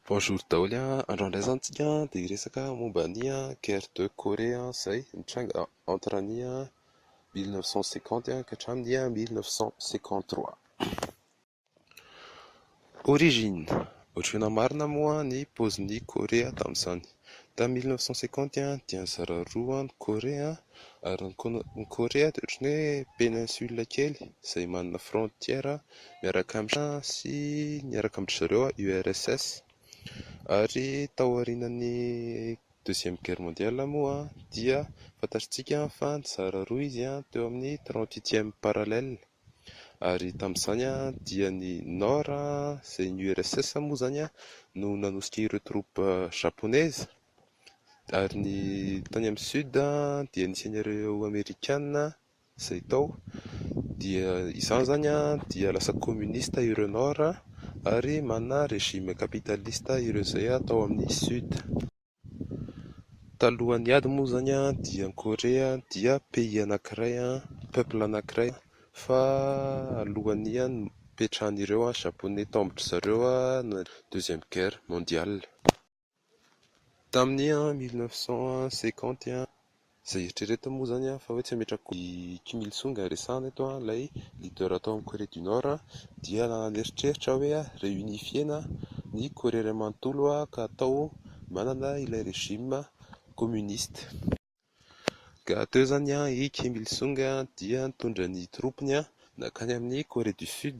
Bonjour daholo an! Androany indray izany tsika dia hiresaka momba ny guerre de Corée izay nitranga entre ny mille neuf cent cinquante ka hatramin'ny mille neuf cent cinquante trois. Origine, Ohatr'ireo namarina moa ny paozin'i Corée tamin'izany. Tamin'ny mille neuf cent cinquante dia nizara roa ny Korea ary ny Ko- ny Korea dia ohatran'ny hoe péninsule kely izay manana frontière miaraka amin'i Shina sy miaraka amin-dry zareo URSS. Ary taorianan'ny deuxième guerre mondiale moa dia fantatsika fa nizara roa izy teo amin'ny trente huitième parallèle. Ary tamin'izany dia ny Nord izay ny URSS moa izany no nanosika ireo troupes Japonaises ary ny tany amin'ny Sud dia nisy an'ireo Amerikana izay tao dia izany izany dia lasa communiste ireo Nord ary manana régime capitaliste ireo izay tao amin'ny Sud. Talohan'ny ady moa izany dia ny Korea dia pays anankiray, peuple anankiray, fa alohan'ny hipetrahan'ireo japoney tao amin-dry zareo deuxième guerre mondiale, tamin'ny mille neuf cent cinquante. Izay eritreretina moa izany fa hoe tsy hametraka i Kim Il Sung resahana eto an, ilay leader ato amin'ny Corée du Nord dia nanan'eritreritra hoe reunifier-na ny Corée iray manontolo ka atao manana ilay regime communiste. Ka teo izany i Kim Il Sung dia nitondra ny troupes-ny nankany amin'ny Corée du Sud.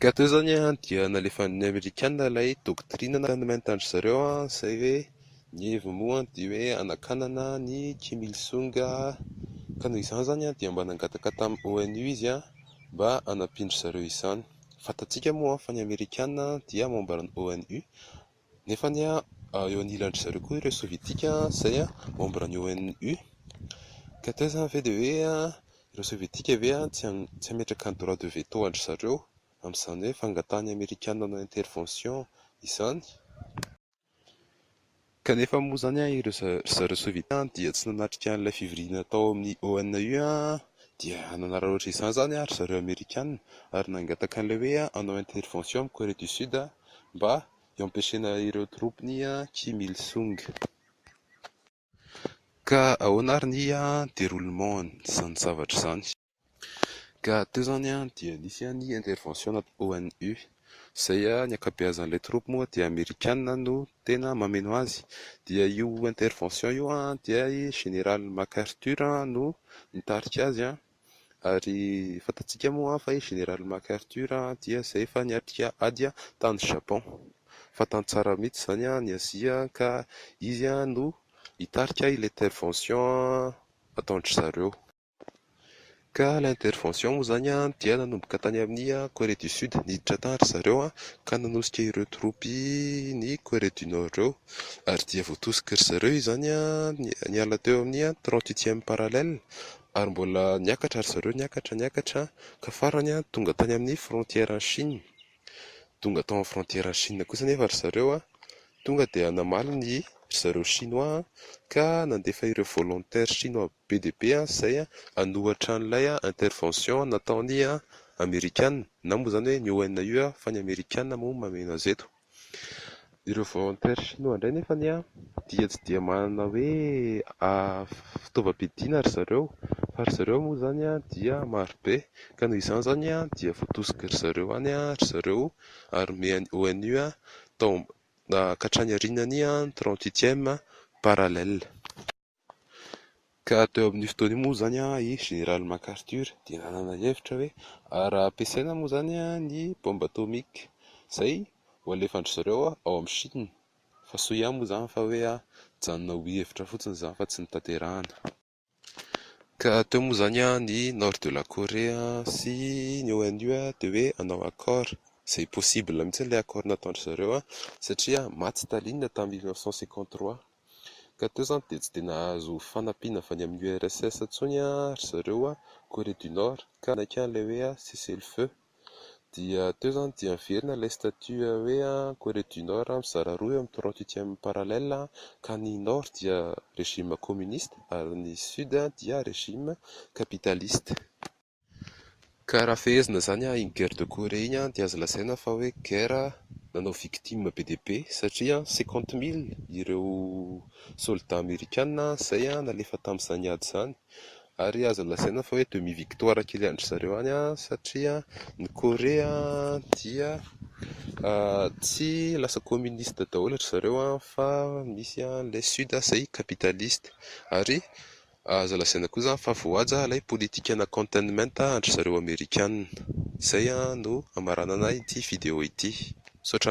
Ka teo izany dia nalefan'ny Amerikana ilay doctrine nanomen-ta an-dry zareo izay hoe ny heviny moa dia hoe hanakanana an'i Kim Il Sung ka noho izany izany dia mba nangataka tamin'ny ONU izy mba hanampian-dry zareo izany. Fantatsika moa fa ny Amerikana dia membre ny ONU Nefa anie eo anilan-dry zareo koa ireo Sovietika izay membre ny ONU. Ka teo izany ve dia hoe ireo Sovietika ve tsy hametraka ny droit de veto an-dry zareo amin'izany hoe fangatahan'ny Amerikana hanao intervention izany? Kanefa moa izany ireo ry zareo Sovietika dia tsy nanatrika an'ilay fivoriana tao amin'ny ONU dia nanararaotra izany izany ry zareo Amerikana ary nangataka an'ilay hoe hanao intervention amin'i Corée du Sud mba hiampiasaina ireo troupes ny Kim Il Sung. Ka ahoana ary ny deroulement izany zavatra izany? Ka teo izany dia nisy ny intervention natao ONU izay ny ankabeazan'ilay troupes moa dia amerikanina no tena mameno azy dia io intervention io dia i Général Mac Arthur no nitarika azy. Ary fantatsika moa fa i Général MacArthur dia izay efa niatrika ady tany Japon. Fantany tsara mihitsy izany ny Azia ka izy no hitarika ilay intervention ataon-dry zareo. Ka ilay intervention moa izany dia nanomboka tany amin'ny Corée du Sud, niditra tany ry zareo ka nanosika ireo troupes ny Corée du Nord ireo ary dia voatosik'ry zareo izany niala teo amin'ny trente-huitième parallèle Ary mbola niakatra ry zareo, niakatra, niakatra, ka farany tonga tany amin'ny frontière-n'i Chine. Tonga tao amin'ny frontière-n'i Chine kosa anefa ry zareo, tonga dia namaly ny ry zareo Shinoa ka nandefa ireo volontaires Shinoa be dia be izay hanohatra an'ilay intervention nataon'ny Amerikana, na moa izany hoe ny ONU fa ny Amerikana moa mameno azy eto. Ireo volontaires shinoa indray nefa anie dia tsy dia manana hoe fitaovam-piadiana ry zareo fa ry zareo moa izany dia maro be ka noho izany izany dia voatosiky ry zareo any ry zareo ary nomen'ny ONU tao hatrany aorianan'ny trente huitième parallèle. Ka teo amin'io fotoana io moa izany i Général MacArthur dia nanana ny hevitra hoe raha ampiasaina moa izany ny bomba atomika izay ho alefan-dry zareo ao amin'i Chine fa soa ihany moa izany fa hoe hijanona ho hevitra fotsiny izany fa tsy notanterahina. Ka teo moa izany ny Nord de la Corée sy ny ONU dia hoe hanao accord, izay possible mihitsy ilay accord nataon-dry zareo satria maty Staline tamin'ny mille neuf cent cinquante trois. Ka teo izany dia tsy dia nahazo fanampiana avy any amin'ny URSS intsony ry zareo Corée du Nord ka nanaiky an'ilay hoe cessez-le-feu. Dia teo izany dia niverina ilay statut hoe Corée du Nord mizara roa eo amin'ny trente huitième parallèle ka ny Nord dia régime communiste ary ny Sud dia régime capitaliste. Ka raha fehezina izany an, iny guerre de Corée iny dia azo lazaina fa hoe guerre nanao victime be dia be satria cinquante mille ireo soldats amerikana izay nalefa tamin'izany ady izany ary azo lazaina fa hoe demi victoire kely an-dry zareo any satria ny Corée dia tsy lasa communiste daholo an-dry zareo fa misy ilay sud izay capitaliste ary Aza lazaina koa zany fa voahaja ilay politikana containment an-dry zareo amerikanina. Izay no hamaranana ity video ity. Misaotra anareo.